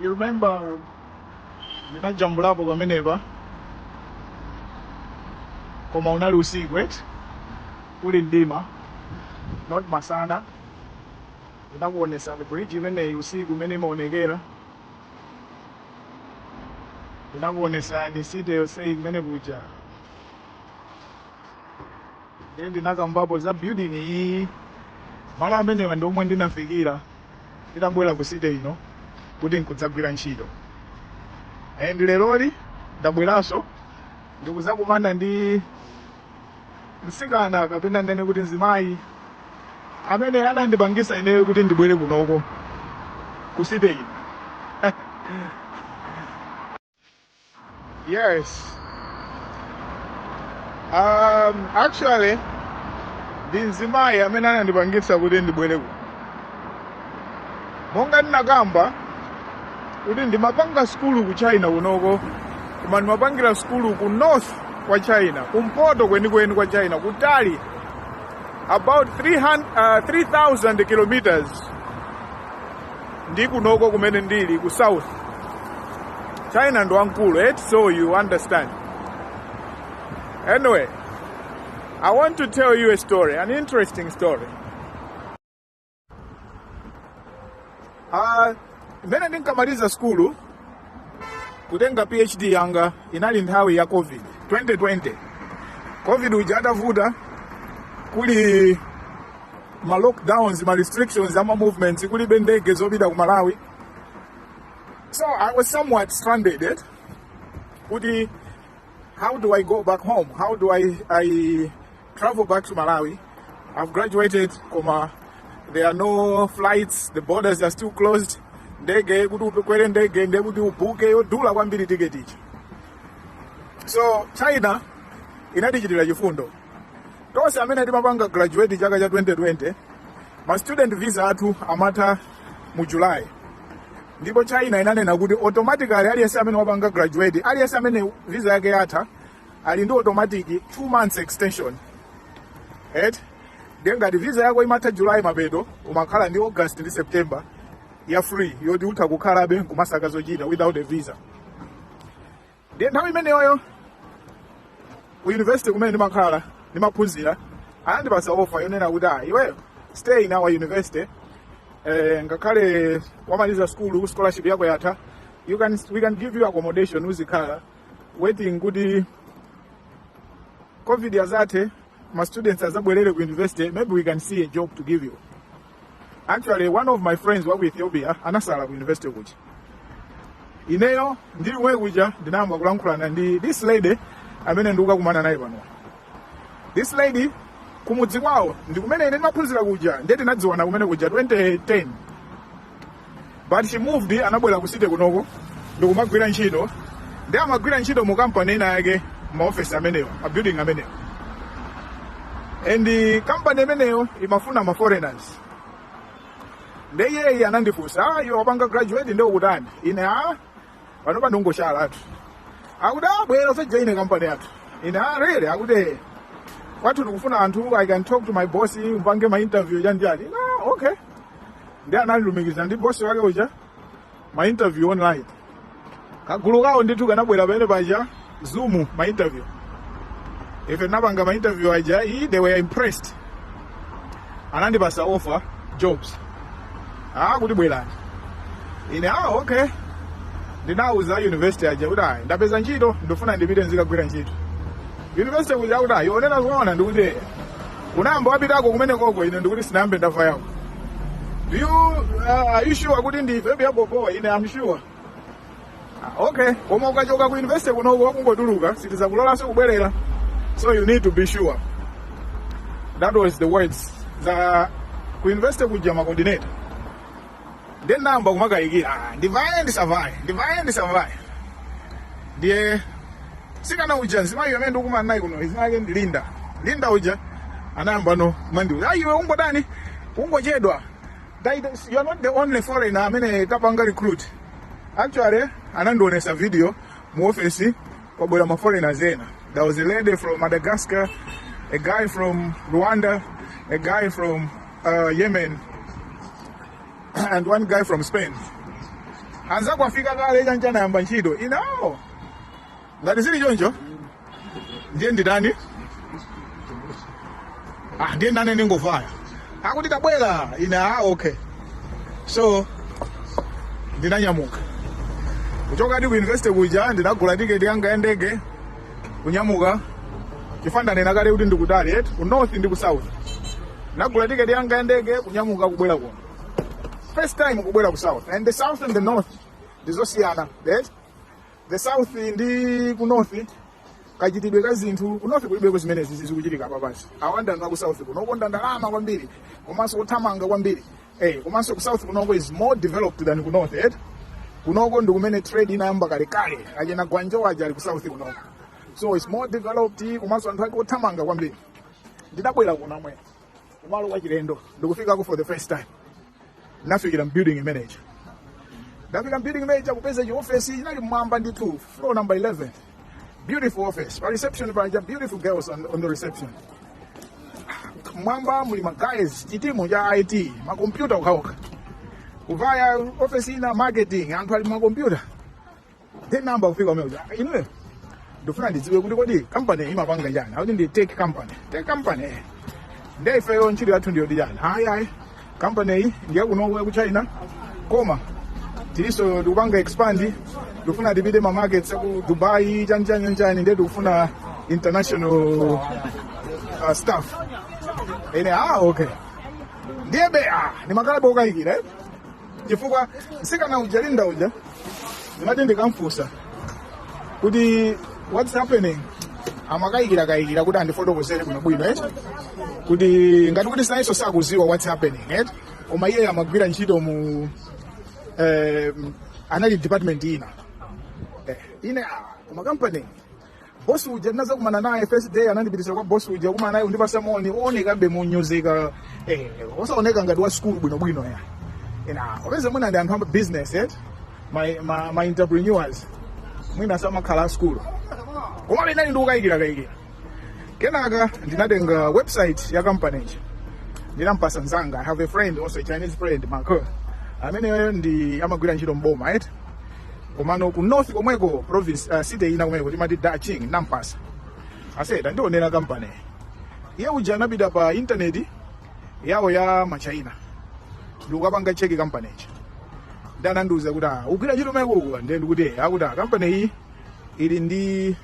You remember ndinajambulapo pamenepa koma unali usiku kuli mdima not masana ndinakuonesani bridge imeneyi usiku mmene imaonekera ndinakuonesani city yonse kumene kuja Ine ndinakambapo za building iyi. Malo amenewa ndi omwe ndinafikira nditabwera ku city ino kuti ndikadzagwire ntchito. And leroli ndabweranso ndikuzakumana ndi msikana kapena ndinene kuti mzimayi amene anandipangisa ineyo kuti ndibwere kunoko ku city ino. Yes. Um, actually ndi mzimayi amene anandipangitsa kuti ndibwere kuno. Monga ndinakamba kuti ndimapanga sukulu ku China kunoko, koma ndimapangira sukulu ku north kwa China, kumpoto kwenikweni kwa China, kutali about 300, uh, 3000 kilometers ndi kunoko kumene ndili ku south china ndi wamkulu eti so you understand anyway i want to tell you a story an interesting story uh, mmene ndinkamaliza skulu kutenga phd yanga inali nthawi ya covid 2020 covid uja atavuta kuli ma lockdowns ma restrictions ama movements kulibe ndege zopita ku malawi so i was somewhat stranded eh? kuti how do i go back home how do i, I travel back to Malawi. I've graduated, koma there are no flights, the borders are still closed. Ndege kuti ukwere ndege ndiye kuti ubuke yodula kwambiri tiketi ichi. So China inatichitira chifundo. Tonse amene timapanga graduate chaka cha 2020 ma student visa athu amatha mu July. Ndipo China inanena kuti automatically aliyense amene wapanga graduate, aliyense amene visa yake yatha ali ndi automatic 2 months extension eti ndiye ngati visa yako imatha july mapeto umakhala ndi august ndi september ya free yoti utha kukhalabe nkumasaka zochita without a visa ndiye nthawi imeneyoyo ku university kumene ndimakhala ndimaphunzira anandipasa ofa yonena kuti ah iweyo stay in our university eh, ngakhale wamaliza school scholarship yako yatha you can, we can give you accommodation uzikhala waiting kuti covid ikazatha ma students azabwerere ku university maybe we can see a job to give you actually one of my friends wa ku ethiopia anasala ku university kuja ineyo ndili kumwe kuja ndinayamba kulankhulana ndi this lady amene ndikukakumana naye pano this lady kumudzi kwawo ndi kumene ine ndimaphunzira kuja ndiye tinadziwana kumene kuja 2010 but she moved anabwera ku city kunoko ndikumagwira ntchito ndi amagwira ntchito mu kampani ina yake maofesi amenewo mabuilding amenewo and eh, kampani imeneyo imafuna ma foreigners nde iyeyi anandifunsa ah, iwe wapanga graduate nde ukutani ine a pano ndangokhala akuti bwera uzajoine kampani yathu ine a really akuti "Eh, kwathu tikufuna anthu i can talk to my boss mpange ma interview chanichani ine okay nde anandilumikiza ndi bosi wake uja ma interview online kagulu kawo ndithu kanabwera pamene paja zoom ma interview ife tinapanga ma interview aja ayi they were impressed anandipasa offer job ah kuti bwerani ine ah okay ndinauza university aja kuti ayi ndapeza ntchito ndifuna ndipite nzikagwira ntchito university kuja kuti ayi ukunena zoona ndikuti unayamba wapitako kumenekoko ine ndiye kuti sinayambe ndavayako do you uh, are you sure kuti ndi vepi ya bobo ine am sure Ah, okay koma ukachoka ku university kunoko ukangotuluka sitizakulolanso kubwerera so you need to be sure that was the words za ku university kuja macoordinator ndiye ndinayamba kumakayikira "Ah, ndivale ndisavale ndivale ndisavale ndiye mtsikana uja mzimayi amene ndikumana naye kuno dzina lake ndi linda linda uja anayamba kumandiuza ayi iwe ungodani ungochedwa Titus, you are not the only foreigner amene tapanga recruit actually anandionesa video mu office kwabwera ma foreigners ena there was a lady from madagascar a guy from rwanda a guy from uh, Yemen and one guy from Spain. Anza afika kale chani anayamba ntchito. Ine ah. Ngati zili choncho. Ndiye nditani? Ah, ndiye nane ndingovaya. Akuti tabwera. Ine ah, okay. So ndinanyamuka. Kuchoka eti ku university kuja ndinagula tiketi yanga ya ndege. kunyamuka chifukwa ndanena kale kuti ndikutali eti ku north ndi ku south ndinagula tiketi yanga ya ndege kunyamuka kubwera kuno first time kubwera ku south and the south and the north ndizosiyana eti the south ndi ku north kachitidwe ka zinthu ku north kulibeko zimenezi zikuchitika apa pansi awa ndi anthu a ku south kuno okonda ndalama kwambiri komanso othamanga kwambiri eh komanso ku south kunoko is more developed than ku north eh kunoko ndi kumene trade inayamba kalekale achina Guangzhou aja ali ku south kunoko so it's more developed komanso anthu ake othamanga kwambiri ndinabwera kuno amwene kumalo kwa chilendo ndikufikako for the first time nafikira mbuilding imeneja nditafika mbuilding imeneja kupeza chiofesi chinali mmwamba ndithu floor number 11 beautiful office pa reception panja beautiful girls on, on the reception mwamba muli maguys chitimu cha IT makompyuta okhaokha kuvaya office ina marketing anthu ali makompyuta then nayamba kufunsa kumene inuyo ndifuna ndidziwe kuti kodi company imapanga chani akuti ndi tech company tech company eh. nde ifeyo ntchito yathu ndiyotani ayi ayi kampaneyi ndi yakunoko yaku china koma tilinso tikupanga expand tikufuna tipite ma markets aku dubai chanchanyanchani ndiye tikufuna international uh, staff ine ah okay ndiye be ah ndimakhalabe ndikukayikira eh? chifukwa msikana uja linda uja ndimati ndikamfunsa kuti what's happening amakayikira kayikira kuti andifotokozere bwino bwino eti kuti ngati kuti iyeso sakuziwa what's happening eti koma iye amagwira ntchito mu eh, anali department ina eh, ine ah, koma company boss uja ndinazakumana naye first day anandipitisa kwa boss uja kukumana naye kundipatsa moni oonekabe monyozeka eh osaoneka ngati wa school bwino bwino ine ah opeza mwina ndi anthu a business eh ma ma, ma entrepreneurs mwina samakhala a school koma ndinali ndikukayikira kayikira kenaka ndinatenga website ya company ija ndinampasa nzanga i have a friend also a chinese friend marco ameneyo nde amagwira ntchito mboma right komano ku north komweko province uh, city ina komweko timati Daqing nampasa ase tandionera kampaniyi iye uja anapita pa intaneti yawo ya machaina ndikukapanga cheki kampani ichi nde anandiuza kuti ah, ugwira ntchito kumeneko ndiye ndikuti "Eh, akuti ah, kampani iyi ili ndi